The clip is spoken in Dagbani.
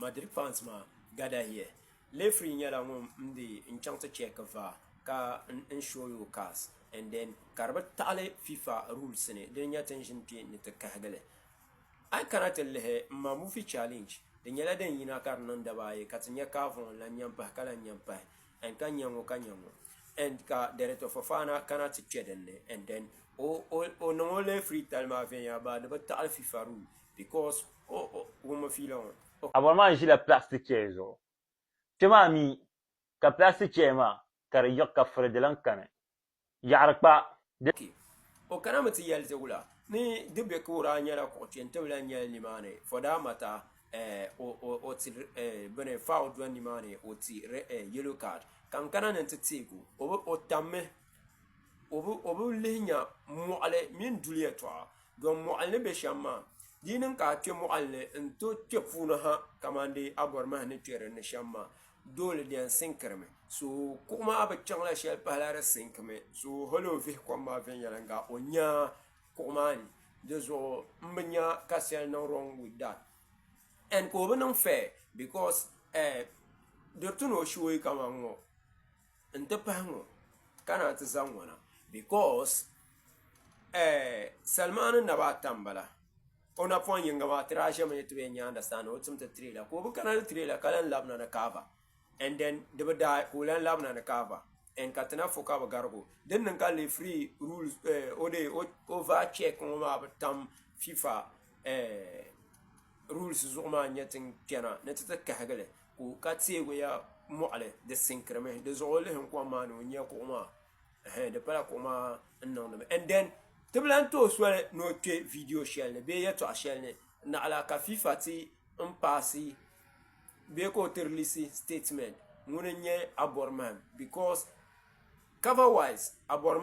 Madrid fans maa gather here. Lefree nyɛla ŋun m be n chaŋ ti check var ka n show you cars and then ka di bi taɣili fifa rules ni dini nyɛ tin ʒini kpe ni ti kahigili. A yi kana ti lihi m ma movie challenge di nyɛla din yina ka di niŋ daba ayi ka ti nya Carvon lan nya m-pahi ka lan nya m-pahi and ka nya ŋɔ ka nya ŋɔ and ka Director Fofana kana ti kpe din ni and then o niŋ o lefree tali maa viɛnyɛla baa di bi taɣili fifa rules. Because o o ŋun mi fiila ŋɔ. O. Abɔri maa ʒila plastic chair zuɣu. Kpe maa mi ka plastic chair maa ka di yiɣi ka furi di lan kani. Yaɣiri kpa di. Okay. O kana mi ti yɛli dibu la ni di be ka o daa nyɛla kuɣu kpe n-ti bi lan nyɛli nimaani for that matter eh, o o o ti eh, bini foul dɔni nimaani o ti re eh, yellow card ka n kana ni n ti teeg o. O bi, o tammi o bi, o bi lihi nya mɔɣili mini duli yɛtɔɣa Dɔn mɔɣili ni be shɛm maa, di yi niŋ ka a kpe mɔɣili ni n-tooi kpe puuni ha kaman deei Abɔrimahi ni kpe dinni shɛm maa, doole di yɛn siŋkirimi. So kuɣ maa bi chaŋla shɛli pahila di siŋkimi. So hal o vihi kom maa viɛnyɛliŋga o nya kuɣ maa ni. Dizuɣu m bi nya ka shɛli niŋ wrong with that. And ka o bi niŋ fair because eh diri ti ni o shooyi kaman ŋɔ. N ti pahi ŋɔ ka naa ti zaŋ ŋɔ na because salimaani naba ata n bala o na pɔŋ yinga maa ti daa zami ni ti bɛ yɛn nya understand ni o tim ti trailer ka o bi kana ni trailer ka lan labina ni kaaba and then di bi daai ka o lan labina ni kaaba and ka ti na fɔ ka bi garig o din niŋ ka referee rules o dee over check ŋɔ maa bi tam fifa rules zuɣu maa n nyɛ ti kpɛna ni ti ti kahigi li. Ku ka teeguya mɔɣili, di sinkirimi. Di zuɣu o lihi n kom maa ni o nya kuɣu maa. Ɛhɛn, di pala kuɣu maa n niŋdi mi. And then ti bi lan tooi soli ni o kpe video shɛli ni bee yɛltɔɣa shɛli ni naɣila ka FIFA ti n paasi bee ka o ti release statement ŋuni n nyɛ Aborimahim because cover wise Aborimahim.